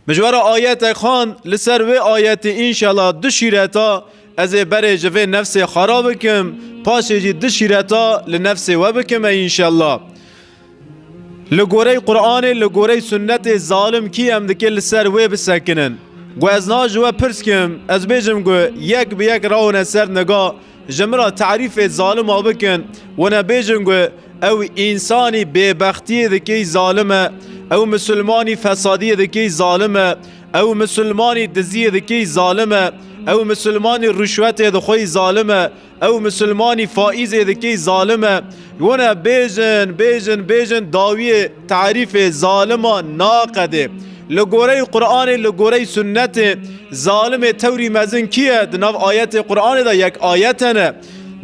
Mijwara ayete xan li ser wê ayetê înşela du şîreta ez ê berê ji vê nefsê xwe re bikim paşê jî du şîreta li nefsê we bikim ey înşela. Li gorey Quranê li gorey sunnetê zalim kî em dike li ser wê bisekinin. Gu ez niha ji we pirs kim ez bêjim gu yek bi yek rawine ser niga Ji min re tarîfê zalima bikin. Winebêjin got, Ew însanî bêbextiyê dikey zalim e. Ew misilmanî fesadiyê dikey zalim e. Ew misilmanî diziyê dikey zalim e. Ew misilmanî rûşwetê dixwey zalim e. Ew misilmanî faîzê dikey zalim e. Winebêjin, bêjin, bêjin dawiyê. Tarîfê zaliman naqedê. Li goreyê Quranê, li goreyê sunnetê zalimê tewrî mezin kî ye? Di nav ayetê Quranê de yek ayet hene.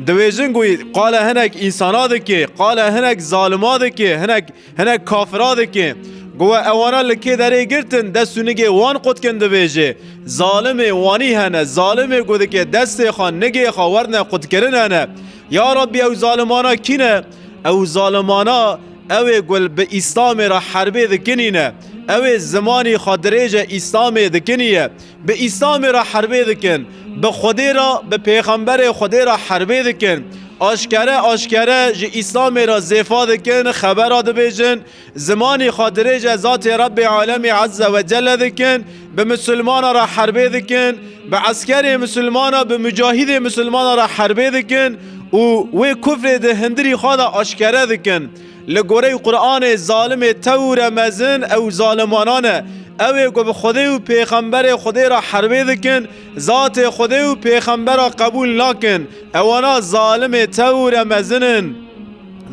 Diwêjin ku qala hinek însana dikê, qala hinek zalima dikê, hinek hinek kafira dikê. Gowa ewana li kê derê girtin dest û nigê wan qutkin dibêjê. Zalimê wanî hene, zalimê ku dike destê xwe, nigê xwe werne qutkirin hene. Ya Rabbî ew zalimana kî ne? Ew zalimana Ew ê gul bi Îslamê re herbê dikinîne. Ew ê zimanî xwe dirêje Îslamê dikinîye. Bi Îslamê re herbê dikin. Bi Xwedê re, bi Pêxemberê Xwedê re herbê dikin. Aşkere aşkere ji Îslamê re zêfa dikin, xebera dibêjin. Zimanî xwe dirêje zatê Rebbê Alemî Ezze Wecelle dikin. Bi misilmana re herbê dikin, bi eskerê misilmana, bi mucahidê misilmana re herbê dikin û wê kufrê di hindirî xwe de aşkere dikin. Li goreyî Quranê zalimê tewr e mezin ew zalimanan e. Ew ê ku bi Xwedê û pêxemberê Xwedê re herbê dikin, zatê Xwedê û pêxembera qebûl nakin. Ewana zalimê tewr e mezin in.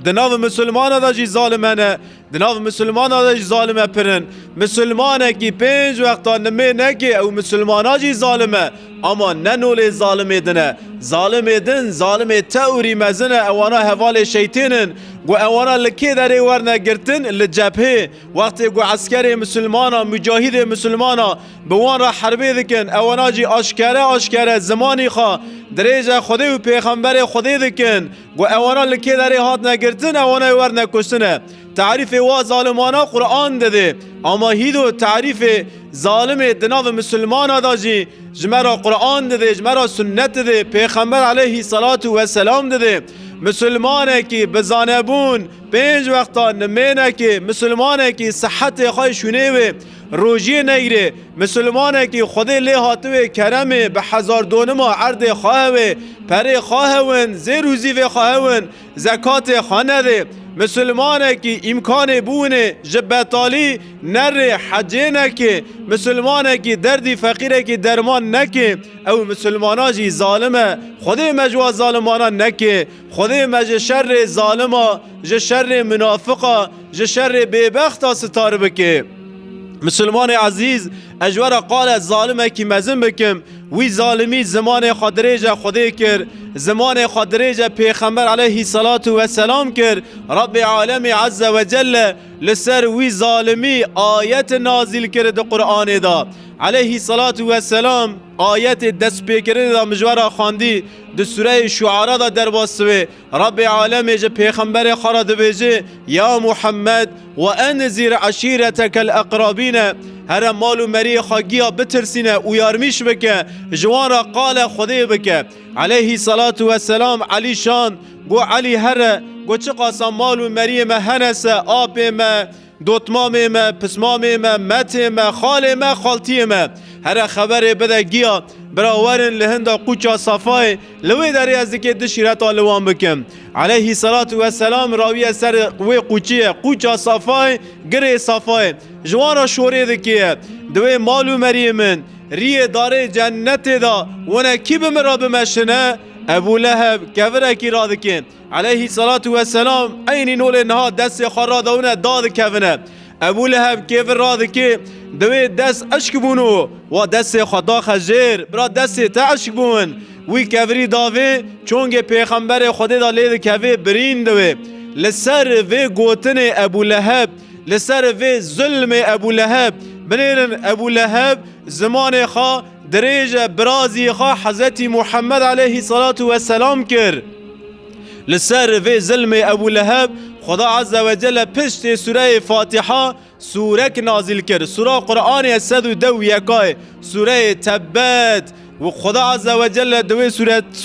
Di nav misilmana de jî zalim hene. Di nav misilmanan de jî zalim e pir in. Misilmanekî pênc wextan nimê neke ew misilmana jî zalim e. Ama ne nolê zalimê din e. Zalimê din, zalimê teorî mezin e ewana hevalê şeytên in. Ku ewana li kê derê werne girtin? Li cephê. Wextê ku eskerê misilmanan, mucahîdê misilmanan bi wan re herbê dikin, ewana jî aşkere aşkere zimanî xwe dirêje Xwedê û pêxemberê Xwedê dikin. Ku ewana li kê derê hatine girtin ewana ê werne kuştine. Tarîfê wa zalimana Quran de dê. Ama hîdo tarîfê zalimê di navê misilmana da jî ji me ra Quran de dê, ji me ra sunnet de dê, pêxember aleyhî selatû we selam de dê. Misilmanekî bi zanebûn pênc wextan nimênekê, misilmanekî sihetê xwe şûnê wê. Rojiyê Neyrê, Misilmanekî Xwedê lê hatiwê Keremê bi hezar donima erdê xahewê, perê xahewin, zêr û zîvê xahewin, zekatê xwe nedê. Misilmanekî îmkanê biwinê ji betalî nerê hecê nekê. Misilmanekî derdî feqîrekî derman nekê, ew misilmana jî zalim e. Xwedê me ji wa zalimanan nekê. Xwedê me ji şerê zalima, ji şerê minafika, ji şerê bêbexta sitar bike. Misilmanê ezîz, ez ji we re qale zalimekî mezin bikim, wî zalimî zimanê xwe dirêj e Xwedê kir, zimanê xwe dirêj e pêxember eleyhî selatu we selam kir, Rebbê alemî ezze we celle li ser wî zalimî ayet nazîl kir di Quranê de. Eleyhî selatu we selam ayetê destpêkirinê de min ji we re xwendî, Di sureyê Şuara de derba siwê Rebbê alemê ji pêxemberê xwe re dibêje, Ya Muhemmed we enzîr eşîretekel eqrabîne, here mal û meriyê xwe giya bitirsîne û yarmîş bike, ji wan re qale Xwedê bike. Eleyhî selatu weselam Elî şand, got Elî here, got çiqasa mal û meriyê me hene se, apê me, Dotmamê me, pismamê me, metê me, xalê me, xaltiyê me. Here xeberê bide giya, bira werin li hinda qûça Safayê, li wê derê ez dikê tu şîreta li wan bikim. Eleyhî selatû we selam rawiye ser wê qûçiyê, qûça Safayê, girê Safayê. Ji wan re şorê dikeye. Di wê mal û meriyê min, riyê darê cennetê de wene kî bi min re bimeşine? Ebû Leheb kevirekî radikê. Eleyhî selatu weselam eynî nolê niha destê xwe radewine dadikevine. Ebû Leheb kêfir radikê di wê dest eşk bûn û wa destê xwe daxe jêr. Bira destê te eşk bûn. Wî kevirî da vê çongê pêxemberê Xwedê de lê dikevê birîn di wê. Li ser vê gotinê Ebû Leheb, li ser vê zilmê Ebû Leheb binêrin Ebû Leheb zimanê xwe Dirêje birazî xwe Hezretî Muhammed aleyhî selatû we selam kir. Li ser vê zilmê Ebû Leheb Xweda Azze we Celle piştê sûreyê Fatiha sûrek nazîl kir. Sûra Quranê ye sed û deh û yeka ye. Sûreyê Tebbet Xweda Azze we Celle di wê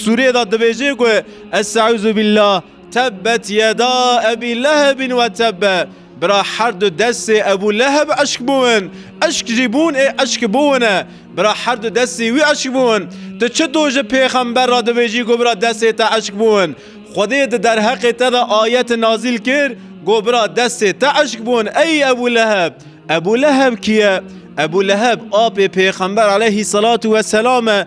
sûrê de dibêje ku Est'eûzû bîllah, Tebbet yeda Ebî Lehebîn we tebbe, bira her du destê Ebû Leheb eşk bûn, eşk jî bûn ê eşk bûn e, bira her du destê wî eşk bûn. Tu çito ji pêxember re dibêjî ku bira destê te eşk bûn? Xwedê di derheqê te de ayet nazîl kir ku bira destê te eşk bûn ey Ebû Leheb. Ebû Leheb kî ye? Ebû Leheb apê pêxember aleyhî selatû weselam e.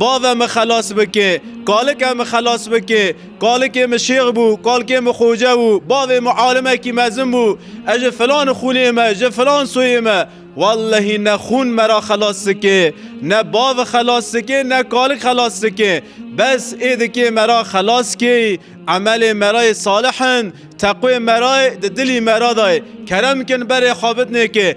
Bavê min xelas bike, kalikê min xelas bike, kalikê min şêx bû, kalikê min xoce bû, bavê min alimekî mezin bû, ez ji filan xûnê me, ji filan soyê me. Wellehî ne xûn me ra xelas dike, ne bav xelas dike, ne kalik xelas dike. Bes ê dikê me ra xelas kê yê, emelê me ra yê salih in, teqwê me ra yê, di dilî me ra da yê. Kerem kin berê xwe bidnê ke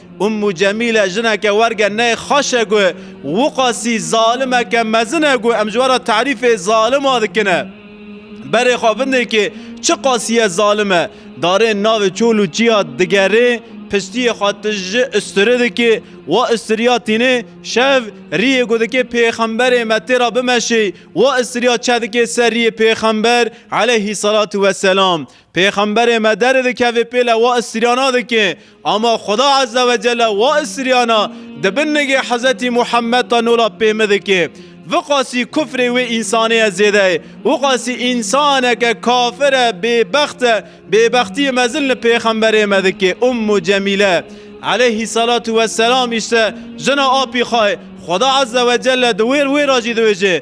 Ummu Cemîle jineke werge neyê xweş e ku Wiqasî zalimeke mezin e ku em ji we re tarîfê zalima dikin e. Berê xwe vindê kê çi qasîye zalim e. Darên navê çol û çiya digerê, piştiyê xwe tiji usturê dikê. Wa usturiya tînê şev riyê ku dikê pêxemberê me tê re bimeşê. Wa usturiya çeh dikê ser riyê pêxember eleyhî selatû weselam. Pêxemberê me derê dikevê pêle wa istiriyana dike, ama Xweda Ezze ve Celle wa istiriyana di bin nigê Hezretî Muhemmed de nola pê min dike. Viqasî kufrê wê însanê ye zêde ye. Wiqasî însaneke kafir e, bêbext e, bêbextiyê mezin li pêxemberê me dike. Ummu Cemîle, Eleyhîsselatûwesselam, îşte jina apî xwe ye. Xweda Ezze ve Celle di wê wê re jî dibêje.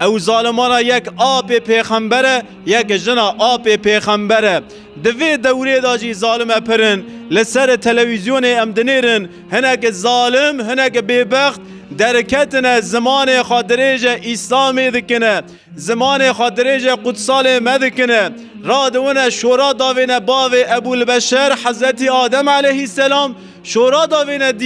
Ew zalimana yek apê pêxember e, yek jina apê pêxember e. Di vê dewrê de jî zalime pir in. Li ser telewîzyonê em dinêrin hinek zalim, hinek bêbext derketine zimanê xwe dirêje Îslamê dikine, zimanê xwe dirêje qutsalê me dikine. Radiwine şora davêne bavê Ebûlbeşer Hezretî Adem eleyhîsselam, şora davêne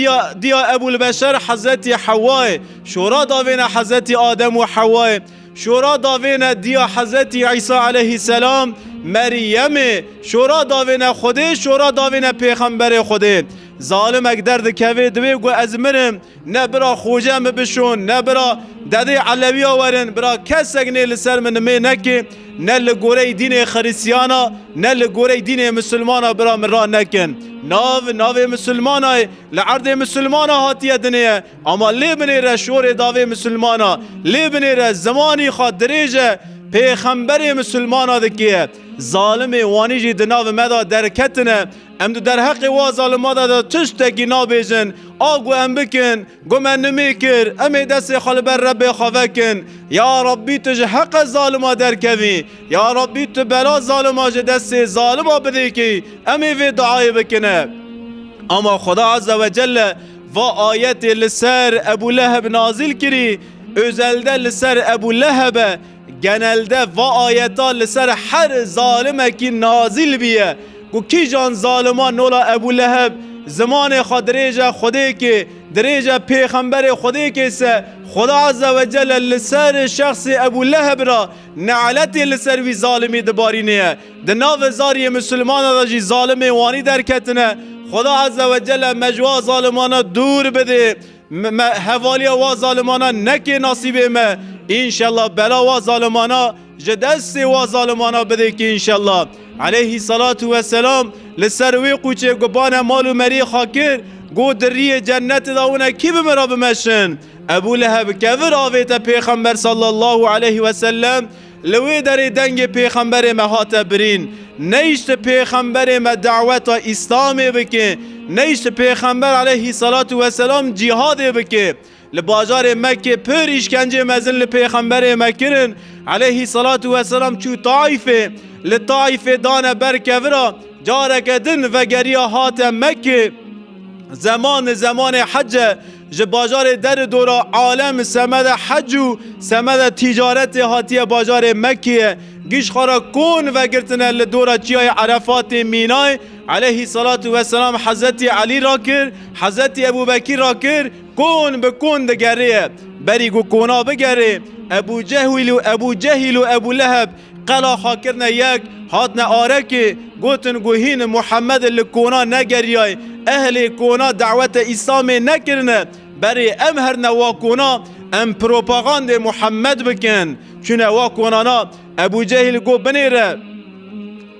diya Ebûlbeşer Hezretî Hewayê. Şora da vêne Hezetî Adem û Hewayê. Şora da vêne diya Hezetî Îsa eleyhîsselam, Meryemê. Şora da vêne Xwedê, şora da vêne pêxemberê Xwedê. Zalimek derdikevê divê ku ez mirim, ne bira Xoce mi bişon, ne bira dedê Elewîya werin, bira kesek nê li ser min nimê neke, ne li goreyî dînê Xirîsîyana, ne li goreyî dînê Misilmana bira min ra nekin. Nav, navê Misilmana ye, li erdê Misilmana hatiye dinê ye. Ama lê binêre şorê davê misilmana, lê binêre zimanî xwe dirêj e, pêxemberê misilmana dikêye. Zalimê wanî jî di navê me de derketine. Em di derheqê wa zalima de de tu ştekî nabêjin, a ku em bikin, ku me nimê kir, em ê destê xwe li ber Rebbê xwe vekin, Ya Rebbî tu ji heqe zalima derkevî, Ya Rebbî tu bela zalima ji destê zalima bidêkî, em ê vê duayê bikine. Ama Xweda Azze Wecelle Va ayetê li ser Ebû Leheb nazîl kirî, ozelde li ser Ebû Leheb e, genelde va ayeta li ser her zalimekî nazîl bîye ku kîjan zaliman nola Ebû Leheb zimanê xwe dirêje Xwedêkê, dirêje pêxemberê Xwedêkê se, Xweda Azze ve Celle li ser şexsê Ebû Leheb re ne'letê li ser wî zalimî dibarînê ye. Di navê zariyê misilmanan de jî zalimên wanî derketine. Xweda Ezze ve Celle me ji wa zalimanan dûr bidê. Me hevaliya wa zalimanan nekê nasîbê me. Înşella bela wa zalimanan ji destê wa zalimanan bidê kî înşella. Eleyhî selatû ve selam li ser wê qûçê ku bane mal û meriyê xwe kir, got di riyê cennetê de wina kî bi min re bimeşin. Ebû Leheb kevir avête pêxember sallallahu eleyhi ve sellem, Li wê derê dengê pêxemberê me hate birîn, neyişt pêxemberê me daweta îslamê bike, neyişt pêxember aleyhî selatû weselam cîhadê bike. Li bajarê Mekkê pir îşkencê mezin li pêxemberê me kirin, aleyhî selatû weselam çû Taîfê, li Taîfê dane ber kevira, careke din vegeriya hate Mekkê, zeman li zemanê hece, Ji bajarê der û dora alem semeda hec û semeda tîcaretê hatiye bajarê Mekkeyê. Gîjxara Kon vegirtine li dora çiyayê Erefatê mînay eleyhî selatû weselam Hezretî Elî ra kir, Hezretî Ebûbekîr ra kir, kon bi kon digerîye. Berî ku kona bigerê, Ebûcehwîl û Ebûcehîl û Ebûleheb Qela xwe kirine yek, hatine arekê, gotin ku hîn Muhemedê li kona negeriyay, ehlê kona dawete Îslamê nekirine, berê em herine wa kona, em propagandê Muhemed bikin. Çûne wa konana, Ebû Cehîl got binêre.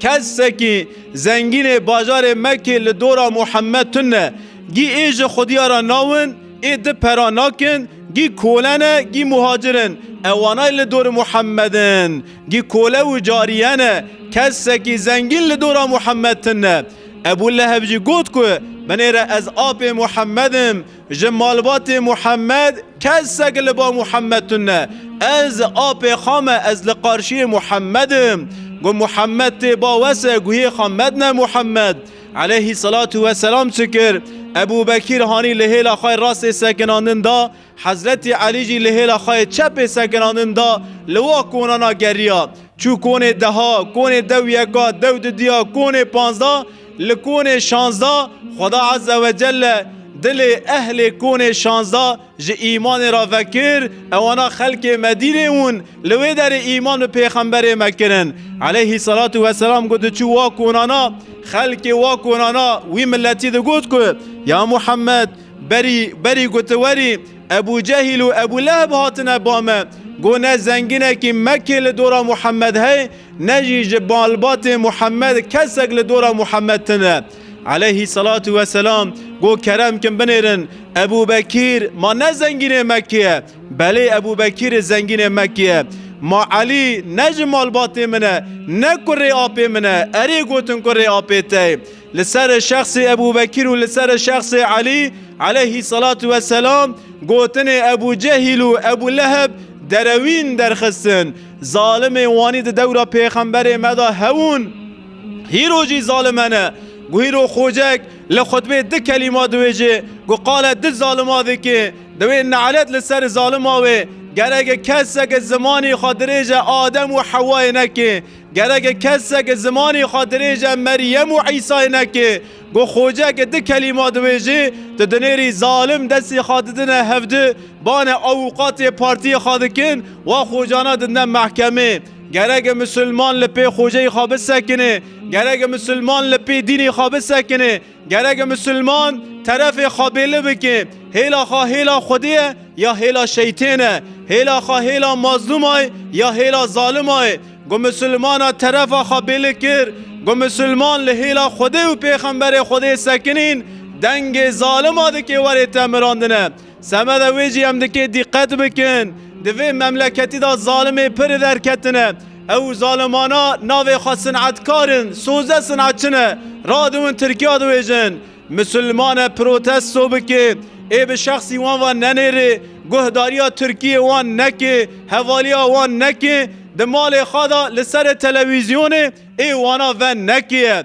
Kesekî zengînê bajarê Mekê li dora Muhemed tune, gî ê ji xwedîya re nawin, Ê di pera nakin, gî kole ne, gî muhacir in. Ewanay li dorê Muhemed in. Gî kole û cariye ne. Kesekî zengîn li dora Muhemed tine. Ebû Leheb jî got ku binêre ez apê Muhemed im, ji malbatê Muhemed kesek li ba Muhemed tine. Ez apê xwe me, ez li qarşiyê Muhemed im. Got Muhemed tê ba wese guhê xwe medine Muhemed. Eleyhî selatu we selam çi kir? Ebû Bekîr hanî li hêla xwe yê rastê sekinandin da, Hezretî Elî jî li hêla xwe yê çepê sekinandin da, li wa konana geriya. Çû konê deha, konê dew yeka, dew dudiya, konê panzda, li konê şanzda, Xweda Ezzewecelle dilê ehlê konê şanzda, Ji îmanê re vekir, ewana xelkê Medînê wûn, li wê derê îman bi pêxemberê me kirin, eleyhî selatû weselam ku diçû wa konana, xelkê wa konana wî miletî digot ku, Ya Muhemmed! Berî, berî ku tu werî, Ebû Cehîl û Ebû Leheb hatine ba me, got ne zenginekî Mekkê li dora Muhemmed heye, ne jî ji malbatê Muhemmed kesek li dora Muhemmed tune. Aleyhî selatu ve selam got kerem kin binêrin Ebû Bekîr ma ne zengînê Mekkê ye belê Ebû Bekîrê zengînê Mekkê ye. Ma Elî ne ji malbatê min e ne kurê apê min e erê gotin kurê apê te ye. Li serê şexsê Ebû Bekîr û li serê şexsê Elî aleyhî selatu ve selam gotinê Ebû Cehîl û Ebû Leheb derewîn derxistin. Zalimê wanî di dewra pêxemberê me de hebûn. Hîro jî zalimen e. Ku hîro Xocek li xutbê du kelîma diwêje ku qale du zalima dike, diwê nelet li ser zalima wê. Gerek e kesek zimanê xwe dirêje Adem û Hewayê neke. Gerek e kesek zimanê xwe dirêje Meryem û Îsayê neke. Ku Xocek du kelîma diwêje, tu dinêrî zalim destê xwe didine hevdu, bane awûqatê partiyê xwe dikin, wa xocana didine mehkemê. Gerek Musulman li pê xweceyê xwe bisekinê, gerek Musulman li pê dînê xwe bisekinê, gerek Musulman terefê xwe bêli bike. Hêla xwe hêla Xwedê ye ya hêla şeytên e? Hêla xwe hêla mazlûma ye ya hêla zalima ye? Ku Musulmana terefa xwe bêli kir, ku Musulman li hêla Xwedê û Pêxemberê Xwedê sekinîn, dengê zalima dikê werê te mirandine. Semeda wê jî em dikê dîqet bikin, di vê memleketî de zalimê pir li der ketine. Ew zalimana navê xwe sinetkar in, soze sinetçi ne, radiwin Tirkiya diwêjin. Misilmane protesto bike, ê bi şexsî wan ve nenêrê, guhdariya Tirkiyê wan neke, hevaliya wan neke, di malê xwe de li serê telewîzyonê ê wana ve neke.